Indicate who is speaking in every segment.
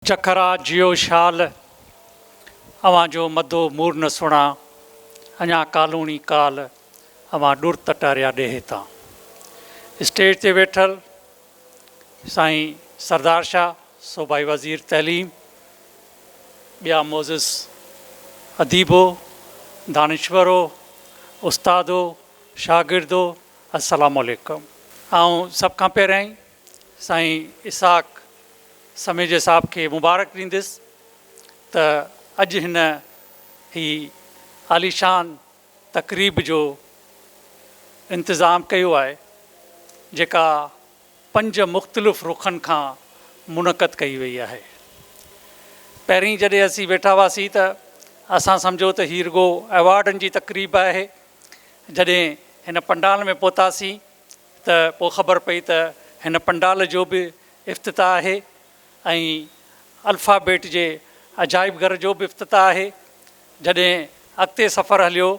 Speaker 1: چکرا جيو شال، اوهان جو مدو مور نه سڻا، اڃا ڪالوڻي ڪال، اوهان ڏور تٽاريا ڏيهي تان. اسٽيج تي ويٺل سائين سردار شاهه، صوبائي وزير تعليم، ٻيا معزز اديبو، دانشورو، استادو، شاگردو، السلام عليڪم. آئون سڀ کان پهريائين سائين اسحاق سميجي صاحب کي مبارڪ ڏينديس ته اڄ هن هي عاليشان تقريب جو انتظام ڪيو آهي جيڪا پنج مختلف رخن کان منعقد ڪئي وئي آهي پهرين جڏهن اسين ويٺا هئاسين ته اسان سمجهو ته هي رڳو ايوارڊن جي تقريب آهي جڏهن هن پنڊال ۾ پهتاسين ته پوء خبر پئي ته هن پنڊال جو به افتتاح آهي ۽ الفا بيٽ جي عجائب گهر جو به افتتاح آهي. جڏهن اڳتي سفر هليو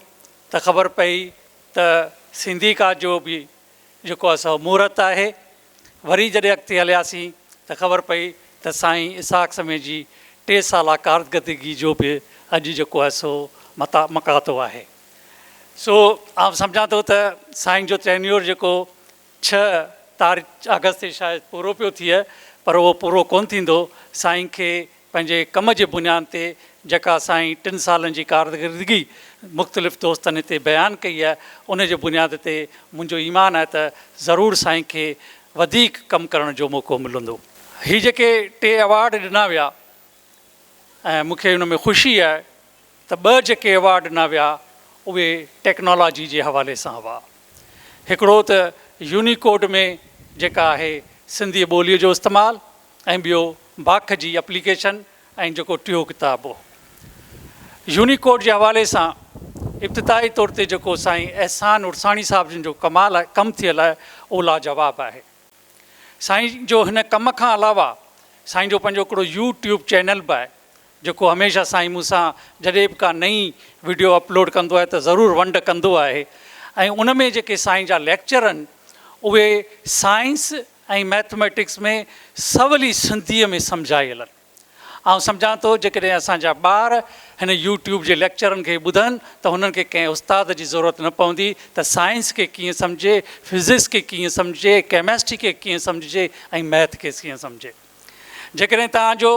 Speaker 1: ته خبر پئي ته سيندي ڪا جو به جيڪو آهي سو مهورت آهي. وري جڏهن اڳتي هلياسين ته خبر پئي ته سائين اسحاق سمي جي ٽي سالا ڪارڪردگي جو به اڄ جيڪو آهي سو متامڪاتو آهي. سو آئون سمجهان ٿو ته سائين جو ٽينيور جيڪو ڇهه تاريخ آگسٽ تي شايد پورو پيو ٿئي پر اهو پورو ڪونه ٿيندو، سائين کي پنهنجي ڪم جي بنيان تي جيڪا سائين ٽن سالن جي ڪارڪردگي مختلف دوستن هتي بيان ڪئي آهي ان جي بنياد تي منهنجو ايمان آهي ته ضرور سائين کي وڌيڪ ڪم ڪرڻ جو موقعو ملندو. هي جيڪي ٽي ايوارڊ ڏنا ويا ۽ مون کي ان ۾ خوشي آهي ته ٻه جيڪي ايوارڊ ڏنا ويا اهي ٽيڪنالاجي جي حوالي سان هئا. هڪڙو ته يونيڪوڊ ۾ جيڪا آهي سنڌي ٻوليء جو استعمال ۽ ٻيو باک جي اپليڪيشن ۽ جيڪو ٽيون ڪتاب هو. يونيڪوڊ جي حوالي سان ابتدائي طور تي جيڪو سائين احسان عرساڻي صاحب جن جو ڪمال ڪم ٿيل آهي اهو لاجواب آهي. سائين جو هن ڪم کان علاوه سائين جو پنهنجو هڪڙو يو ٽيوب چينل به آهي جيڪو هميشه سائين مون سان جڏهن به ڪا نئين وڊيو اپلوڊ ڪندو آهي ته ضرور ونڊ ڪندو آهي ۽ ان ۾ جيڪي سائين جا ليڪچر آهن اهي سائنس ۽ مئٿميٽڪس ۾ سولي سنڌيء ۾ سمجهايل آهن آئون سمجهان ٿو جيڪڏهن اسان جا ٻار هن يوٽيوب جي ليڪچرن کي ٻڌن ته هنن کي ڪنهن استاد جي ضرورت نه پوندي ته سائنس کي ڪيئن سمجهجي فزڪس کي ڪيئن سمجهجي ڪيمسٽري کي ڪيئن سمجهجي ۽ مئٿ کي ڪيئن سمجهجي. جيڪڏهن توهان جو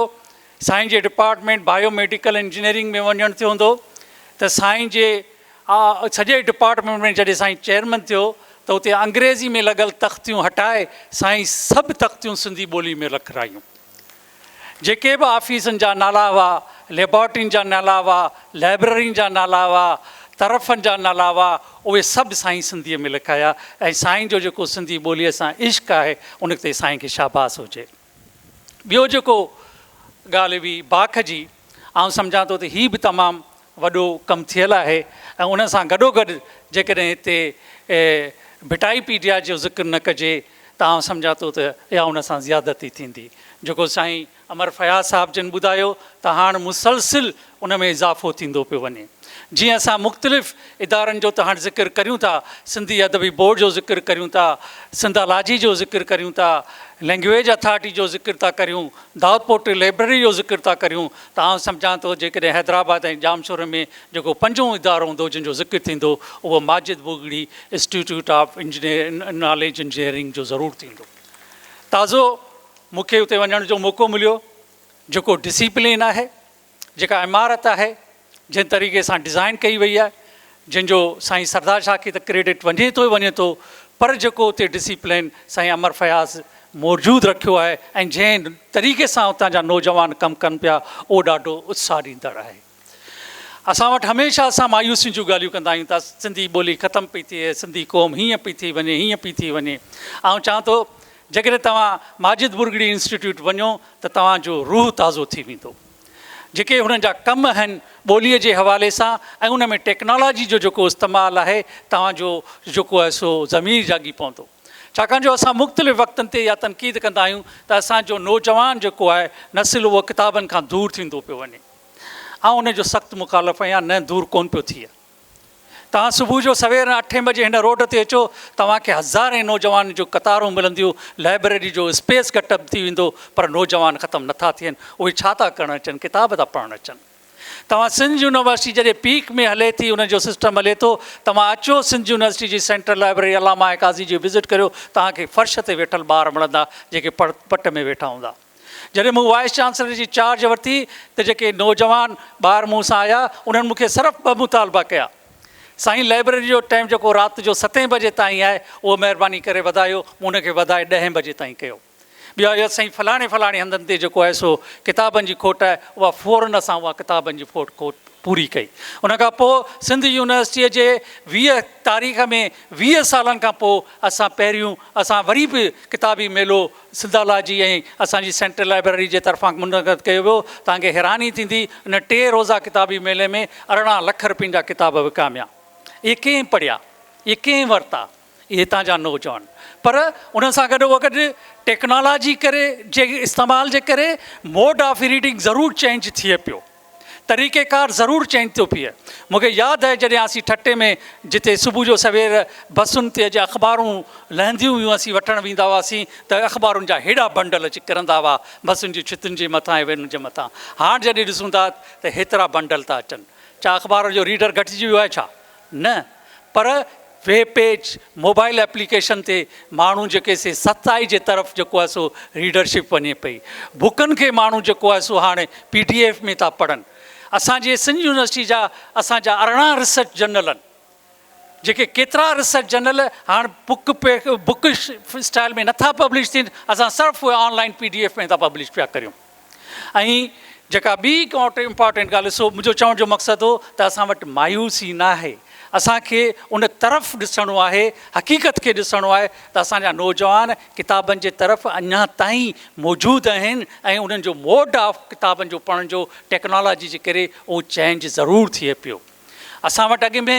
Speaker 1: سائين جي ڊپارٽمينٽ بايو ميڊيڪل انجنيئرنگ ۾ وڃڻ ٿيو هوندو ته سائين جي سڄي ڊپارٽمينٽ ۾ جڏهن سائين چيئرمن ٿيو ته اتي انگريزي ۾ لڳل تختيون هٽائي سائين سڀ تختيون سنڌي ٻولي ۾ رکرايون. جيڪي به آفيسن جا نالا هئا، ليبارٽرين جا نالا هئا، لائبررين جا نالا هئا، طرفن جا نالا هئا، اهي سڀ سائين سنڌيء ۾ لکايا ۽ سائين جو جيڪو سنڌي ٻوليء سان عشق آهي ان تي سائين کي شاباس هجي. ٻيو جيڪو ڳالهه هئي باک جي آئون سمجهان ٿو ته هي به تمام وڏو ڪم ٿيل آهي ۽ ان سان گڏوگڏ جيڪڏهن هتي ڀٽائي پيڊيا جو ذڪر نه ڪجي ته آئون سمجهان ٿو ته اها ان سان زيادتي ٿيندي جيڪو سائين امر فياض صاحب جن ٻڌايو ته هاڻ مسلسل ان ۾ اضافو ٿيندو پيو وڃي. جيئن اسان مختلف ادارن جو ته هاڻ ذڪر ڪريون ٿا، سنڌي ادبي بورڊ جو ذڪر ڪريون ٿا، سنڌالاجي جو ذڪر ڪريون ٿا، لئنگويج اٿارٽي جو ذڪر ٿا ڪريون، دائود پوٽري لئبرري جو ذڪر ٿا ڪريون ته آئون سمجهان ٿو جيڪڏهن حيدرآباد ۽ ڄامشوري ۾ جيڪو پنجون ادارو هوندو جن جو ذڪر ٿيندو اهو Majid Bhurgri institute of knowledge engineering جو ضرور ٿيندو. تازو مون کي اتي وڃڻ جو موقعو مليو جيڪو ڊسيپلين آهي جيڪا عمارت آهي جنهن طريقي سان ڊزائن ڪئي وئي آهي جنهن جو سائين سردار شاهه کي ته ڪريڊٽ وڃي ٿو ئي وڃي ٿو پر جيڪو اتي ڊسيپلين سائين امر فياض موجود رکيو آهي ۽ جنهن طريقي سان اتان جا نوجوان ڪم ڪن پيا اهو ڏاڍو اتساهه ڏيندڙ آهي. اسان وٽ هميشه اسان مايوسين جون ڳالهيون ڪندا آهيون ته سنڌي ٻولي ختم پئي ٿئي سنڌي قوم هيئن پئي ٿي وڃي هيئن پئي ٿي وڃي آئون چاهان ٿو جيڪڏهن توهان ماجد مرڳڙي انسٽيٽيوٽ وڃو ته توهان جو روح تازو ٿي ويندو جيڪي هنن جا ڪم آهن ٻوليء جي حوالي سان ۽ ان ۾ ٽيڪنالاجي جو جيڪو استعمال آهي توهان جو جيڪو آهي سو ضمير جاڳي پوندو ڇاڪاڻ جو اسان مختلف وقتن تي اها تنقيد ڪندا آهيون ته اسان جو نوجوان جيڪو آهي نسل اهو ڪتابن کان دور ٿيندو پيو وڃي آئون ان جو سخت مخالف آهيان، نه دور ڪونه پيو ٿئي. توهان صبح جو سوير اٺين بجي هن روڊ تي اچو، توهان کي هزارين نوجوانن جون قطارون ملنديون، لائبريري جو اسپيس گهٽ ٿي ويندو، پر نوجوان ختم نه ٿا ٿين، اهي ڇا ٿا ڪرڻ اچن، ڪتاب ٿا پڙهڻ اچن. توهان سنڌ يونيورسٽي جڏهن پيڪ ۾ هلي ٿي، ان جو سسٽم هلي ٿو، توهان اچو سنڌ يونيورسٽي جي سينٽرل لائبريري علامه قاضي جي وزٽ ڪريو، توهان کي فرش تي ويٺل ٻار ملندا، جيڪي پڙ پٽ ۾ ويٺا هوندا. جڏهن مون وائيس چانسلر جي چارج ورتي ته جيڪي نوجوان ٻار مون سان آيا انهن مون کي صرف ٻه مطالبا ڪيا سائين لائبريري جو ٽائيم جيڪو رات جو ستين بجي تائين آهي اهو مهرباني ڪري وڌايو مون ان کي وڌائي ڏهين بجي تائين ڪيو ٻيو آيو سائين فلاڻي فلاڻي هنڌن تي جيڪو آهي سو ڪتابن جي کوٽ آهي اها فورن اسان اها ڪتابن جي فوٽ کوٽ پوري ڪئي ان کان پوء سنڌ يونيورسٽيء جي ويهه تاريخ ۾ ويهه سالن کان پوء اسان پهريون اسان وري به ڪتابي ميلو سنڌالاجي ۽ اسان جي سينٽرل لائبريري جي طرفان منعقد ڪيو ويو، توهان کي حيراني ٿيندي ان ٽي روزه ڪتابي ميلي ۾ ارڙهن لک رپين جا ڪتاب وڪاميا. اهي ڪنهن پڙهيا؟ اهي ڪنهن ورتا؟ اهي هتان جا نوجوان. پر ان سان گڏو گڏ ٽيڪنالاجي ڪري جي استعمال جي ڪري موڊ آف ريڊنگ ضرور چينج ٿئي پيو. طريقيڪار ضرور چينج ٿيو پيئي. مون کي ياد آهي جڏهن اسين ٺٽي ۾ جتي صبح جو سوير بسن تي جا اخبارون لهنديون هيون اسين وٺڻ ويندا هئاسين ته اخبارن جا هيڏا بنڊل اچي ڪرندا هئا بسن جي ڇتن جي مٿان ۽ وينن جي مٿان هاڻ جڏهن ڏسون ٿا ته هيترا بنڊل ٿا اچن ڇا اخبار جو ريڊر گهٽجي ويو آهي ڇا؟ نه پر ويب پيج موبائل ايپليڪيشن تي ماڻهو جيڪي سي سچائي جي طرف جيڪو آهي سو ريڊرشپ وڃي پئي بڪن کي ماڻهو جيڪو آهي سو هاڻي پي ڊي ايف ۾ ٿا پڙهن اسان جي سنڌ يونيورسٽي جا اسان جا ارڙهن ريسرچ جرنل آهن جيڪي ڪيترا ريسرچ جرنل هاڻ بڪ پي بڪ اسٽائل ۾ نٿا پبلش ٿين اسان صرف اهي online P D F ۾ ٿا پبلش پيا ڪريون ۽ جيڪا ٻي هڪ امپارٽنٽ ڳالهه سو منهنجو چوڻ جو مقصد هو ته اسان وٽ مايوسي نه آهي اسان کي ان طرف ڏسڻو آهي حقيقت کي ڏسڻو آهي ته اسان جا نوجوان ڪتابن جي طرف اڃا تائين موجود آهن ۽ انهن جو موڊ آف ڪتابن جو پڙهڻ جو ٽيڪنالاجي جي ڪري اهو چينج ضرور ٿئي پيو اسان وٽ اڳ ۾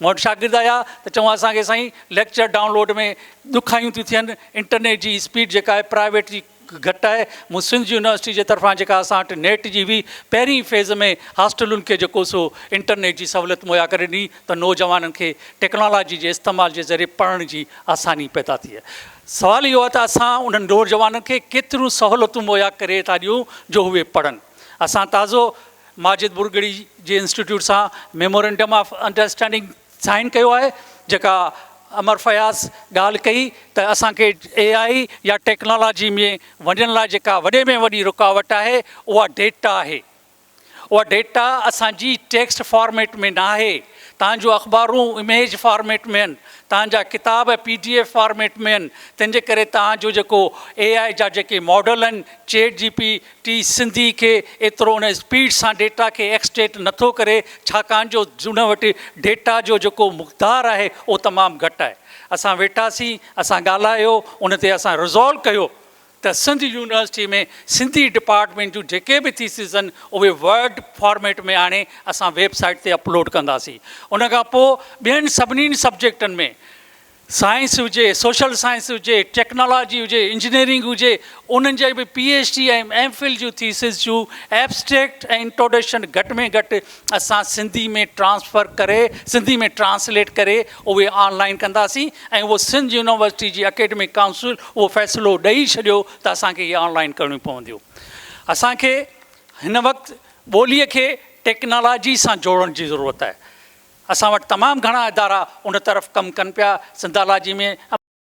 Speaker 1: مون وٽ شاگرد آيا ته چون اسان کي سائين ليڪچر ڊائونلوڊ ۾ ڏکايون ٿيون ٿين انٽرنيٽ جي اسپيڊ جيڪا آهي پرائيويٽ جي گهٽ آهي مون سنڌ يونيورسٽي جي طرفان جيڪا اسان وٽ نيٽ جي هئي پهرين فيز ۾ هاسٽلن کي جيڪو سو انٽرنيٽ جي سهولت مهيا ڪري ڏني ته نوجوانن کي ٽيڪنالاجي جي استعمال جي ذريعي پڙهڻ جي آساني پيدا ٿئي سوال اهو آهي ته اسان انهن نوجوانن کي ڪيتريون سهولتون مهيا ڪري ٿا ڏيون جو اهي پڙهن اسان تازو ماجد ٻرڳڙي جي انسٽيٽيوٽ سان ميمورنڊم آف انڊرسٽينڊنگ سائين ڪيو آهي جيڪا امر فياض ڳالهه ڪئي ته اسان کي اي آء يا ٽيڪنالاجي ۾ وڃڻ لاء جيڪا وڏي ۾ وڏي رڪاوٽ آهي اها ڊيٽا آهي اها ڊيٽا اسان جي ٽيڪسٽ فارميٽ ۾ ناهي تان جو اخبارون اميج فارميٽ ۾ آهن تان جا ڪتاب پي ڊي ايف فارميٽ ۾ آهن تنهن جي ڪري تان جو جيڪو اي آء جا جيڪي ماڊل آهن چيٽ جي پي ٽي سنڌي کي ايترو ان اسپيڊ سان ڊيٽا کي ايڪسٽريڪٽ نٿو ڪري ڇاڪاڻ جو ان وٽ ڊيٽا جو جيڪو مقدار آهي اهو تمام گهٽ آهي اسان ويٺاسين اسان ڳالهايو ان تي اسان رزالو ڪيو ته سنڌ يونيورسٽي ۾ سنڌي ڊپارٽمينٽ جون جيڪي به ٿيسز آهن اهي ورڊ فارميٽ ۾ آڻي اسان ويب سائيٽ تي اپلوڊ ڪنداسين ان کان پوء ٻين سڀني سبجيڪٽن ۾ سائنس هجي، سوشل سائنس هجي، ٽيڪنالاجي هجي، انجنيئرنگ هجي، انهن جي به P H D ۽ M Phil جون ٿيسز جون ايبسٽريڪٽ ۽ انٽروڊڪشن گهٽ ۾ گهٽ اسان سنڌي ۾ ٽرانسفر ڪري، سنڌي ۾ ٽرانسليٽ ڪري اهي آن لائين ڪنداسين ۽ اهو سنڌ يونيورسٽي جي اڪيڊمڪ ڪائونسل اهو فيصلو ڏئي ڇڏيو ته اسان کي اهي آن لائين ڪرڻيون پونديون. اسان کي هن وقت ٻوليء کي ٽيڪنالاجي سان جوڙڻ جي ضرورت آهي. اسان وٽ تمام گهڻا ادارا ان طرف ڪم ڪن پيا، سنڌالاجي ۾.